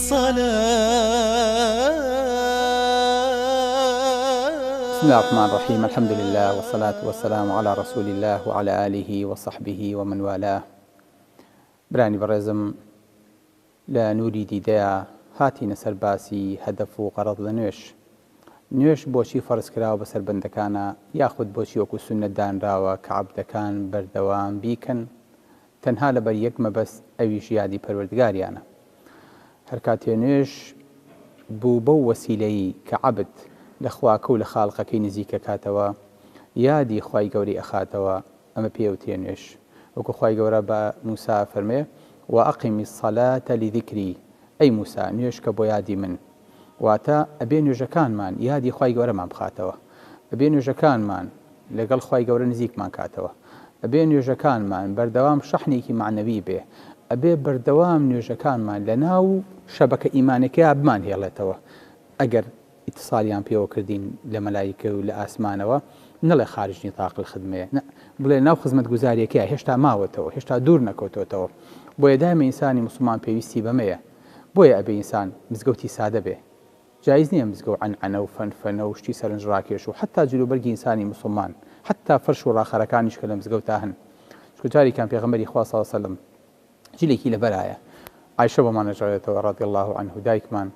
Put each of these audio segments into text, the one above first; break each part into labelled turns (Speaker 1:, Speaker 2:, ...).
Speaker 1: بسم اللە الرحمن الرحیم الحمد للە والصلاة والسلام علی رسول اللە وعلی آله وصحبه ومن والاه برانی بەڕێزم لە نوری دیدەیا هاتینە سەر باسی هەدەف و غەرەز لە نوێژ نوێژ بۆچی فەرز کراوە بەسەر بەندەکانا یاخود بۆچی وەکو سوننەت دانراوە کە عەبدەکان بەردەوام بیکەن تەنها لەبەر یەک مەبەست ئەویش یادی پەروەردگاریانە هەرکاتێ نوێژ بوو بەو وەسیلەی کە عەبد لە خواکەو لە خالقەکەی نزیک ئەکاتەوە یادی خوای گەورەی ئەخاتەوە ئەمە پێی ئەوترێ نوێژ وەکو خوای گەورە بە موسا ئەفەرموێ وەئەقیمی الصلاة لذکری ئەی موسا نوێژکە بۆ یادی من واتە، ئەبێ نوێژەکانمان یادی خوای گەورەمان بخاتەوە، ئەبێ نوێژەکانمان لەگەڵ خوای گەورە نزیکمان کاتەوە، ئەبێ نوێژەکانمان بەردەوام شەحنێکی مەعنەوی بێ، ئەبێ بەردەوام نوێژەکانمان لەناو شەبەکە ئیمانیەکەیا بمانهێڵێتەوە، ئەگەر ئیتسالیان پێوە کردین لە مەلایکەی و لە ئاسمانەوە، نەڵێ خارج نطاق الخدمەیە، نە، بڵێ لەناو خزمەتگوزاریەکەیە، هێشتا ماوەتەوە، هێشتا دوور نەکەوتۆتەوە، بۆیە دایمە ئینسانی موسڵمان پێویستی بەمەیە. بۆیە ئەبێ ئینسان مزگەوتی سادە بێ جایز نیە مزگەو عەنعەنە و فەنفەنە و شتی سەرنج ڕاکێش و حەتا جلوبەرگی ئینسانی موسڵمان حەتا فەرش و ڕاخەرەکانیش کە لە مزگەوتا هەن چونکە جارێکیان پێغەمبەری خوا صلی سلم جلێکی لەبەرایە عایشە بۆمان نەژارێتەوە رضی الله عنه دایکمان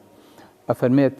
Speaker 1: ئەفەرمێت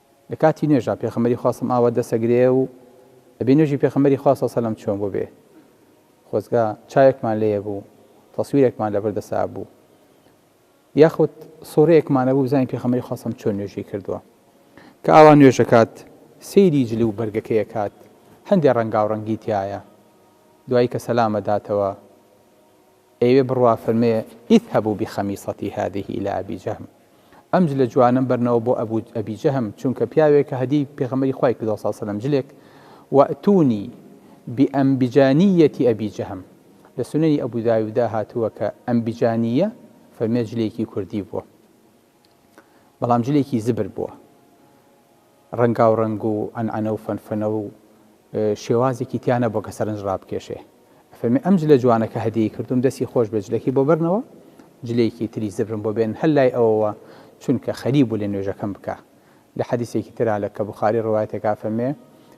Speaker 1: لە کاتی نوێژا پێخەمبەری خوا سم ئاوا دەس ئەگرێ و ئەبێ نوێژی پێخەمبەری خوا سەو سەلەم چۆن بوبێ خۆزگە چاوێکمان لێیە بوو تەسویرێکمان لەبەر دەسا بوو یاخود سۆرەیەکمانە بوو بزانین پێخەمبەری خوا سەم چۆن نوێژی کردووە کە ئاوا نوێژەکات سەیری جلی و بەرگەکەی کات هەندێ ڕەنگاو ڕەنگی تایە دوایی کە سەلامە داتەوە ئێوێ بڕوا فەرمێ اذهبوا بخمیصتی هذه الی ابی جهم ئەم جلە جوانەم بەرنەوە بۆ ابو ابی جهم چونکە پیاوێکە هەدیەی پێغەمبەری خوای کردوە صلی سلم جلێک واتونی بانبجانیەتی ابی جهم لە سونەنی ابو داودا هاتوە کە انبجانیە فەرمێ جلێکی کوردی بوە. بەڵام جلێکی زبر بووە. ڕەنگاوڕەنگ و عەنعەنە و فەنفەنە و شێوازێکی تیا نەبووە کە سەرنج ڕابکێشێ. ئەفەرمێ ئەم جلە جوانە کە هەدیەی کردووم دەستی خۆش بێ جلەکەی بۆ بەرنەوە، جلێکی تری زبرم بۆ بێنن هەر لای ئەوەوە چونکە خەریک بوو لە نوێژەکەم بکا. لە حەدیسێکی ترا لە کە بوخاری ڕەوایەتە کە ئەفەرمێ،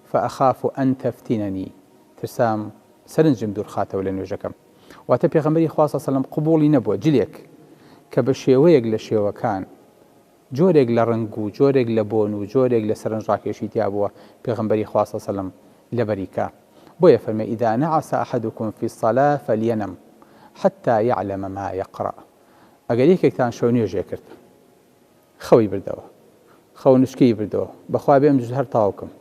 Speaker 1: فأخاف ان تفتننی، ترسام سەرنجم دوورخاتەوە لە نوێژەکەم. واتە پێغەمبەری خوا صلی سەلەم قبوڵی نەبووە جلێک کە بە شێوەیەک لە شێوەکان جۆرێک لە ڕەنگ و جۆرێک لە بۆن و جۆرێک لە سەرنجڕاکێشی تیا بووە پێغەمبەری خوا صلی سەلەم لەبەری کا بۆیە فەرمێ اذا نعس احدكم في الصلاة فلينم حتى يعلم ما يقرأ ئەگەر یەکێکتان شەو نوێژێ کرد خەوی بردەوە خەو نوچکەی بردەوە بەخوا بێم جز هەر تاو کم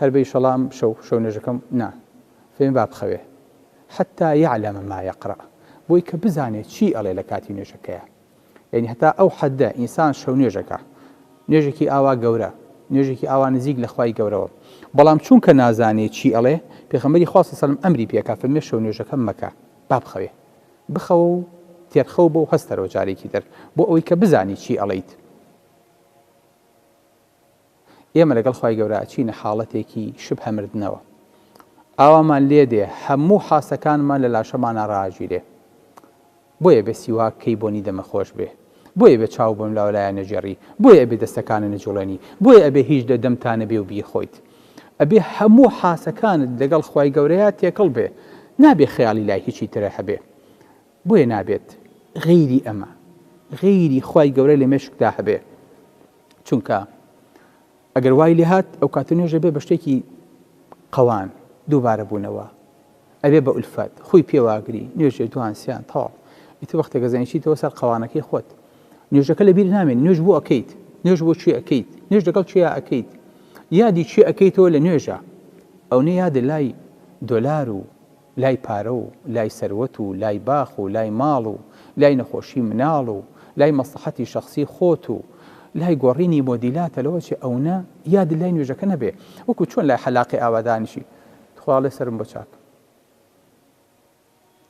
Speaker 1: هەر بە یشەڵا ئەم شەو شەو نوێژەکەم نا فێم با بخەوێ حتی یعلم ما یقرا بۆی کە بزانێ چی ئەڵێ لە کاتی نوێژەکەیا یەنی هەتا ئەو حەدە ئینسان شەو نوێژەکە نوێژێکی ئاوا گەورە نوێژێکی ئاوا نزیک لە خوای گەورەوە بەڵام چونکە نازانێ چی ئەڵێ پێخەمەری خوا سەلم ئەمری پێکا فەرمێ شەو نوێژەکە مەکە با بخەوێ بخەوە و تێرخەوبە و هەستەرەوە جارێکی تر بۆ ئەوەی کە بزانی چی ئەڵێیت. ئێمە لەگەڵ خوای گەورە ئەچینە حاڵەتێکی شبهە مردنەوە. ئاوامان لێ دێ هەموو حاسەکانمان لە لاشەمانا ڕاگیرێ. بۆیە بێ سیواک کەی بۆنی دەمە خۆش بێ. بۆیە ئەبێ چاو بەم لاو لایە نەگێڕی، بۆیە ئەبێ دەستەکانت نەجوڵێنی، بۆیە ئەبێ هیچ لە دەمتا نەبێ و بیخۆیت. ئەبێ هەموو حاسەکانت لەگەڵ خوای گەورەیا تێکەڵ بێ، نابێ خەیاڵی لای هیچی ترە هەبێ. بۆیە نابێت غەیری ئەمە، غەیری خوای گەورە لە مێشکدا هەبێ. چونکە ئەگەر وای لێ هات، ئەوکاتە نوێژ ئەبێ بە شتێکی قەوان، دووبارە بوونەوە. ئەبێ بە ئولفەت خوی پێ واگری نوێژێ دوان سیان تەواو ئیتر وەختێک ئەزانی چیتەوە سەر قەوانەکەی خۆت نوێژەکە لە بیر نامێنی نوێژ بۆ ئەکەیت نوێژ بۆ چی ئەکەیت نوێژ لەگەڵ چیا ئەکەیت یادی چی ئەکەیتەوە لە نوێژە ئەو نە یادە لای دۆلار و لای پارە و لای سەروەت و لای باخ و لای ماڵ و لای نەخۆشی مناڵ و لای مەسلحەتی شخصی خۆت و لای گۆڕینی مۆدیلاتە لەوە چێ ئەونە یاد لای نوێژەکە نەبێ وەکو چۆن لای حەلاقی ئاوادانیشی تخوا ئەڵێ سەرم بۆ چاک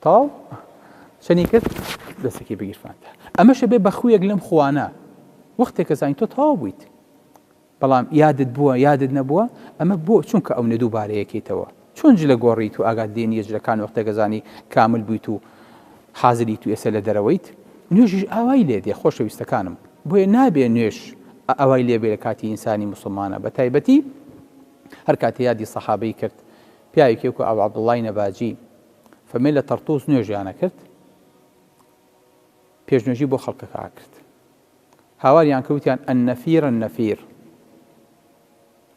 Speaker 1: تاو چەنی کرد دەستێکی بگیرفانتە ئەمەشە بێ بەخویەک لەم خوانە وەختێک کەزانین تۆ تاو بوویت بەڵام یادت بووە یادت نەبووە ئەمە بۆ چونکە ئەو نەدوو بارەیەکەیتەوە چۆن جلە گۆڕیت و ئاگات لێ نیە جلەکان وەختە گەزانی کامل بوویت و حازری تو ئێسە لە دەرەوەیت نوێژیش ئاوای لێ دێ خۆشەویستەکانم بۆیە نابێ نوێش ئەوای لێبێ لە کاتی ئینسانی مسلمانە بە تایبەتی هەر کاتێ یادی سەحابەی کرد، پیاوێکی وەکو ئەبو عەبدوڵڵای نەباجی، فەرمی لە تەڕتووس نوێژیان ئەکرد، پێشنوێژی بۆ خەڵکەکە ئەکرد. هاواریان کرد وتیان، النفیر النفیر،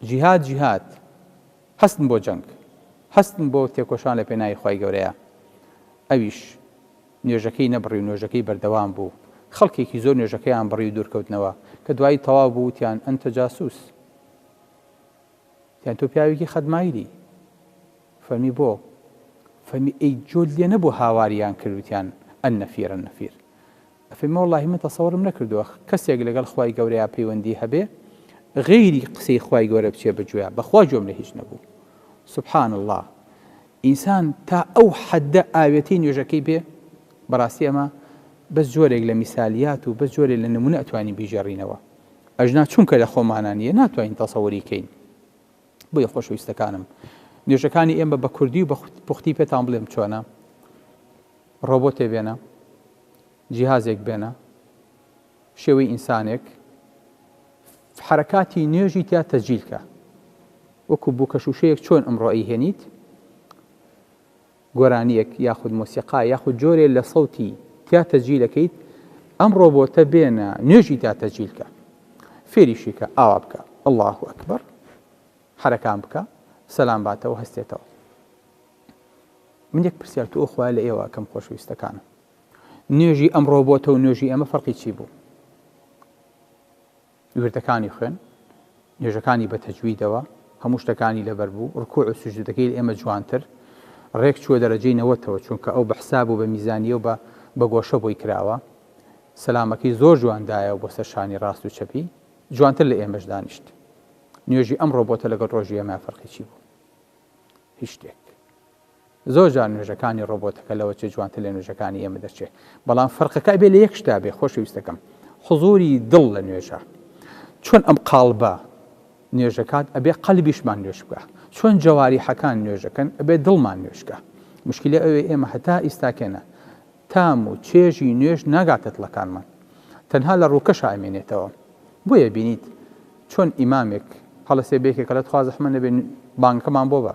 Speaker 1: جیهاد جیهاد، هەستن بۆ جەنگ، هەستن بۆ تێکۆشان لە پێناوی خوای گەورەیا. ئەویش نوێژەکەی نەبڕی و نوێژەکەی بەردەوام بوو. خەڵکێکی زۆر نوێژەکەیان بڕی و دوورکەوتنەوە، کە دوایی تەواو بوو وتیان، انت جاسوس! یان تۆ پیاوێکی خەدمایلی؟ فەرمی بۆ؟ فەرمی ئەی جۆت لێ نەبوو هاواریان کرد وتیان النفیر النفیر ئەفەرمی وەڵاهی من تەسەوڕم نەکردووە کەسێک لەگەڵ خوای گەورەیا پەیوەندی هەبێ غەیری قسەی خوای گەورە بچێ بەگوێیا بەخوا گوێم لە هیچ نەبوو سبحان اللە ئینسان تا ئەو حەددە ئاوێتەی نوێژەکەی بێ بەڕاستی ئەمە بەس جۆرێک لە میسالیات و بەس جۆرێک لە نمونە ئەتوانین بیگێڕینەوە ئەژنا چونکە لە خۆمانا نییە ناتوانین تەسەوری کەین. بۆیە خۆشەویستەکانم نوێژەکانی ئێمە بە کوردی و بە پوختی پێتان بڵێم چۆنە ڕۆبۆتێ بێنە جیهازێک بێنە شێوەی ئینسانێک حرکاتی نوێژی تیا تەجیلکە وەکو بوو کەشوشەیەک چۆن ئەمڕۆ ئەی هێنیت گۆرانیەک یاخود مۆسیقا یاخود جۆرێ لە سەوتی تیا تەجیلەکەیت ئەم ڕۆبۆتە بێنە نوێژی تیا تەجیل کە فێریشی کە ئاوا بکە اللە اکبر حەرەکان بکە سەلام باتەوە هەستێتەوە من یەک پرسیار تو ئەوخوای لە ئێوە کەم خۆشویستەکانم نوێژی ئەم ڕۆبۆتە و نوێژی ئەمە فەرقی چی بوو وردەکانی خوێن، نوێژەکانی بە تەجویدەوە، هەموو شتەکانی لەبەر بوو، ڕکوع و سوجودەکەی لە ئێمە جوانتر، ڕێک چووە دەرەجەی نەوەتەوە، چونکە ئەو بە حساب و بە میزانییە و بە بە گۆشە بۆی کراوە، سەلامەکەی زۆر جوان دایەوە بۆ سەر شانی ڕاست و چەپی، جوانتر لە ئێمەش دانیشت. نوێژی ئەمڕۆ بۆتە لەگەڵ ڕۆژی ئێمە فەرقی چی بوو؟ هیچ شتێک. زۆر جار نوێژەکانی ڕۆبۆتەکە لەوە چێ جوانتر لە نوێژەکانی ئێمە دەچێ بەڵام فەرقەکە ئەبێ لە یەک شتا بێ خۆشەویستەکەم حضوری دڵ لە نوێژە چۆن ئەم قاڵبە نوێژەکات ئەبێ قەلبیشمان نوێش بکە چۆن جەواری حەکان نوێژەکەن ئەبێ دڵمان نوێشکە مشکلی ئەوێ ئێمە هەتا ئیستاکێنە تام و چێژی نوێش ناگاتە دڵەکانمان تەنها لە ڕووکە شامێنێتەوە بۆیە بینیت چۆن ئیمامێک هەڵەسێ بێکێکە لە تخوازەحمە نەبێن بانکەمان بۆ بە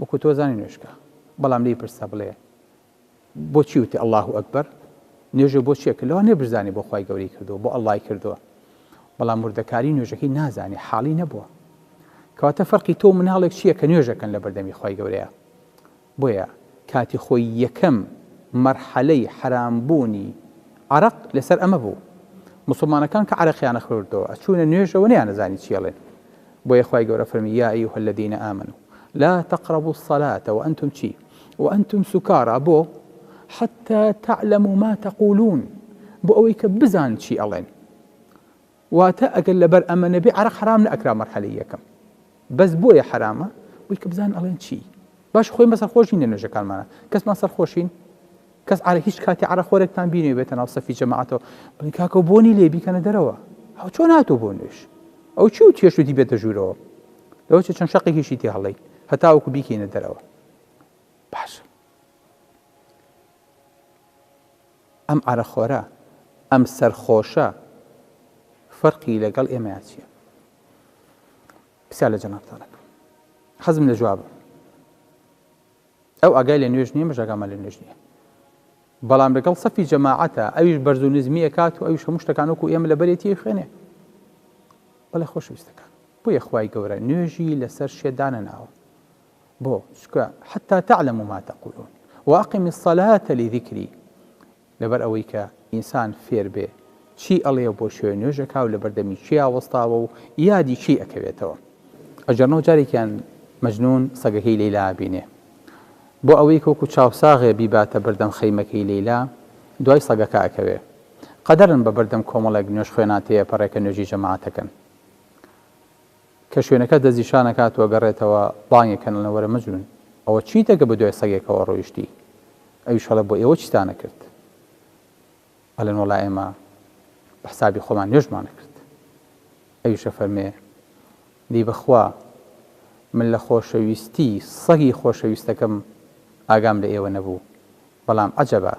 Speaker 1: وەکو تۆ زانی نوێژکە بەڵام لێی پرسە بڵێ بۆچی وتی اللە اکبر نوێژێ بۆ چیە کە لەوە نەبرزانی بۆ خی گەوری کردو بۆ اللەی کردووە بەڵام مردەکاری نوێژەکەی نازانێ حاڵی نەبووە کەواتە فەرقی تۆ مناڵێک چییە کە نوێژەکەن لە بەردەمی خی گەورەیە بۆیە کاتی خۆی یەکەم مەرحەلەی حرامبوونی عرق لەسەر ئەمە بوو مسلمانەکان کە عرەقیانە خوردەوە ئەچوونە نوێژەوە نیانەزانی چیڵێن بۆیە خوای گەورە فەرمی، یا ایها الذین آمنوا لا تقربوا الصلاة وانتم چی؟ وانتم سکاری، بۆ؟ حتی تعلموا ما تقولون، بۆ ئەوەی کە بزان چی ئەڵێن، واتە ئەگەر لەبەر ئەمە نەبێ عەرەق حەرام نەئەکرا مەرحەلەی یەکەم، بەس بۆیە حەرامە بۆی کە بزان ئەڵێن چی؟ باش خۆی مە سەرخۆش نین لە نوێژەکانمانا، کەسمان سەرخۆشین؟ کەس عەرە هیچ کاتی عەرە خۆرێکتان بینیوە بێتە ناو سەفی جەماعەتەوە بڵێن کاکە بۆنی لێ بیکەنە دەرەوە هەو چۆن هاتوو بۆ نوێش ئەو چی و تێش وتی بێتە ژوورەوە لەوە چ چەند شەقێکیشی تێ هەڵەین هەتاوەکو بیکەینە دەرەوە باش ئەم عەرە خۆرە ئەم سەرخۆشە فەرقی لەگەڵ ئێمەیان چییە پرسیار لە جەنابتانەکە حەزم لە جوابە ئەو ئاگای لە نوێژ نیە مش ئاگامان لە نوێژ نیە بەڵام لەگەڵ سەفی جەماعەتە ئەویش بەرز و نزمی ئەکات و ئەویش هەموو شتەکان وەکو ئێمە لە بەرێتی خوێنێ بەڵێ خۆشویستەکان بۆ یەخوای گەورە نوێژی لەسەر شێدانە ناوە بۆ چکە حتا تعلم ما تقولون واقم الصلاة لذكري لەبەر ئەوەی کە ئینسان فێر بێ چی ئەڵێ و بۆ شوێ نوێژ ئەکا و لە بەردەمی چیا وەستاوە و یادی چی ئەکەوێتەوە. ئەگەرنەو جارێکیان مەجنوون سەگەکەی لەیلا ئەبینێ. بۆ ئەوەیک وەکوو چاوساغێ بیباتە بەردەم خەیمەکەی لەیلا، دوای سەگەکە ئەکەوێ. قەدەرن بە بەردەم کۆمەڵێک نوێژخوێنان تێ ئەپەڕێ کە نوێژی جەماعەت ئەکەن. کە شوێنەکە دەستنیشان ئەکات و ئەگەڕێتەوە، بانگێک کەن ئەڵێن وەرە مەجنون ئەوە چیتە کە بەدوای سەگێکەوە ڕۆیشتی؟ ئەویش ئەڵێ بۆ ئێوە چیتان ئەکرد؟ ئەڵێن وەڵا ئێمە بە حسابی خۆمان نوێژمان ئەکرد. ئەویش ئەفەرموێ، دەی بەخوا من لە خۆشەویستی سەگی خۆشەویستەکەم ئاگام لە ئێوە نەبوو، بەڵام عەجەبە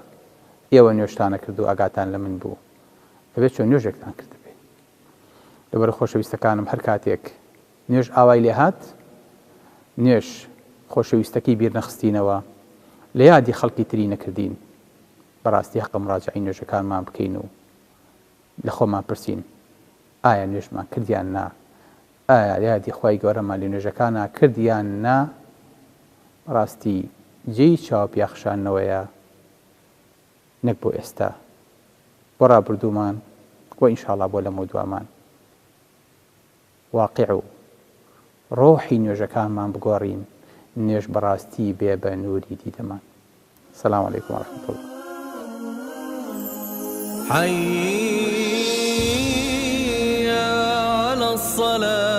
Speaker 1: ئێوە نوێژتان ئەکرد و ئاگاتان لە من بوو، ئەبێ چۆن نوێژێکتان کردبێ؟ لەبەرئەو خۆشەویستەکانم هەر کاتێک نوێژ ئاوای لێ هات نوێژ خۆشەویستەکەی بیر نەخستینەوە لە یادی خەڵکی تری نەکردین بەڕاستی هەقە مڕاجعەی نوێژەکانمان بکەین و لە خۆمان پرسین ئایا نوێژمان کردیان نا ئایا یادی خوای گەورەمان لە نوێژەکانا کرد یان نا بەڕاستی جێی چاوپیاخشانەوەیە نەک بۆ ئێستا بۆ ڕابردوومان و ئینشاڵا بۆ لەمەودوامان واقیع و ڕۆحی نوێژەکانمان بگۆڕین نوێژ بەڕاستی بێ بە نووری دیدەمان سلام علیکم و ڕەحمەت اللە. حي على الصلاة